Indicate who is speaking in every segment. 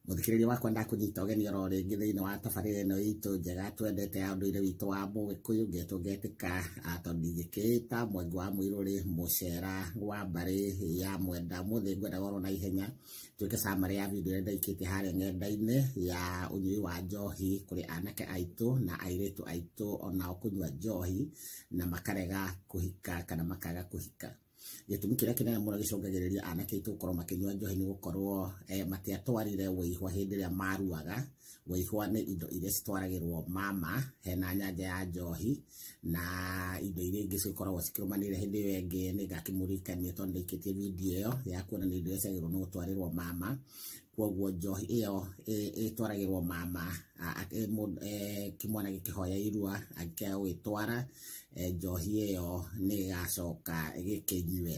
Speaker 1: Mũthikĩrĩria wakwa ndakũnyita ũgeni oro rĩngĩ thĩinĩ wa tabarĩra ĩno itũ njega twendete ya ũndũire witũ wa Mũgĩkũyũ ngetwo ngetĩka ah, tondũ ndingĩkĩĩta mwengi wa mũirũrĩ mũcera wa mbarĩ ya mwenda mũthĩ ngwenda goro na ihenya tuĩke summary ya video ĩrĩa ndaikĩtie harĩa ng'enda-inĩ ya ũnyui wa njohi kũrĩ anake aitũ na airĩtu aitũ onao kũnyua njohi na makarega kũhika kana makaga kũhika gĩtũmi kĩrĩa kĩnene mũno gĩcũngagĩrĩria anake aitũ gũkorwo makĩnyua njohi nĩ gũkorwo eh, matiatwarire wĩihwa hĩndĩ ĩrĩa maruaga wĩihwa nĩ indo iria citwaragĩrwo mama hena nyanja ya njohi na indo iria ingĩ cikoragwo cikĩrũmanĩrĩra hĩndĩ ĩyo ĩngĩ nĩ ngakĩmũririkania tondũ ndĩikĩtie video ĩyo ya kuonania indo iria ciagĩrĩirwo nĩ gũtwarĩrwo mama kwoguo njohi ĩyo ĩ- ĩtwaragĩrwo mama a- a- ĩ- mũndũ- eh, kĩmwana gĩkĩhoya irua angĩkĩaga gũgĩtwara eh, njohi ĩyo nĩ ĩgacoka gĩkĩnyue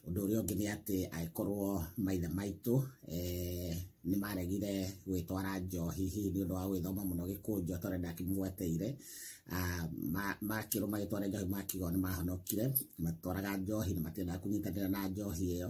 Speaker 1: ũndũ ũrĩa ũngĩ nĩ atĩ angĩkorwo maithe maitũ eh, nĩ maregire gwĩtwara njohi hihi nĩ ũndũ wa gwĩthoma mũno gĩkũnjũ tondũ ndakĩmũgweteire Ah, ma- makĩrwo magĩtwara njohi makiuga nĩ mahonokire matwaraga njohi na matiendaga kũnyitanĩra na njohi ĩyo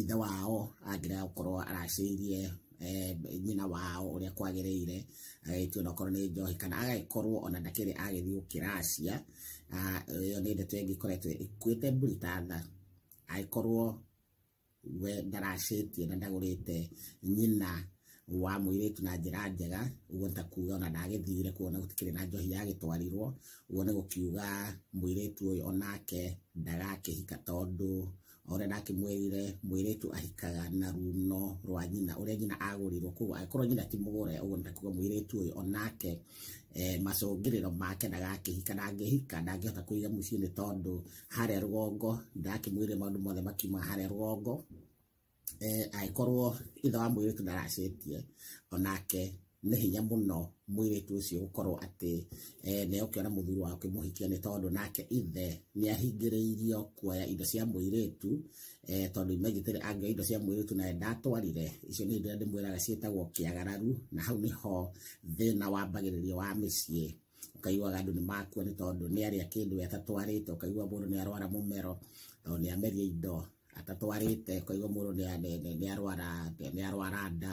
Speaker 1: ithe wao angĩrega gũkorwo aracĩirie eh, nyina wao ũrĩa kwagĩrĩire agagĩtio na okorwo nĩ njohi kana agagĩkorwo ona ndakĩrĩ agĩthiĩ gũkĩracia Ah, ĩyo nĩ ndeto ĩngĩ ĩkoretwo ĩkuĩte mbũri ta tha agĩkorwo we ndaracĩtie na ndagũrĩte nyina wa mũirĩtu na njĩra njega ũguo ta kuga ona ndagĩthire kuona gũtikĩrĩ na njohi yagĩtwarirwo ũguo nĩ gũkiuga mũirĩtu ũyũ onake ndagakĩhika tondũ Morena akĩmwĩrire mwĩirĩtu ahikaga na runo rwa nyina ũrĩa nyina agũrirwo koguo angĩkorwo nyina ti mũgũre ũguo nĩtakuga mwĩirĩtu ũyũ onake eh, macũngĩrĩro make ndagakĩhika na angĩhika ndangĩhota kũiga mũciĩ nĩ tondũ harĩa rũgongo ndakĩmwĩrire maũndũ mothe makiuma harĩa rũgongo eh, angĩkorwo ithe wa mwĩirĩtu ndaracĩtie onake nĩ hinya mũno mwĩrĩtu ũcio gũkorwo atĩ eh, nĩ okĩona mũthuri wa kĩmũhikia nĩ tondũ nake ithe nĩ ahingĩrĩirio kuoya indo cia mũirĩtu eh, tondũ imegitĩre angĩoya indo cia mũirĩtu naye ndatwarire icio nĩ indo iria ndĩmwĩraga ciĩtagwo kĩagararu na hau nĩho thĩna wambagĩrĩrio wa mĩciĩ ũkaiguaga andũ nĩ makua nĩ tondũ nĩ arĩa kĩndũ we atatwarĩte ũkaigua mũndũ nĩ arwara mũmero tondũ nĩ amerie indo atatwarĩte ũkaigua mũndũ nĩ- nĩ- nĩ- nĩ arwara nĩ arwara nda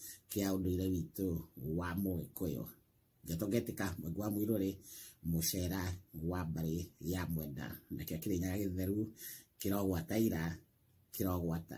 Speaker 1: kĩa ũndũire witũ wa mũgĩkũyũ ngeto ngetĩka mwenge wa mũirũ rĩ mũcera wa mbarĩ ya mwenda nakĩo kĩrĩnyaga gĩtheru kĩrogwata ira kĩrogwata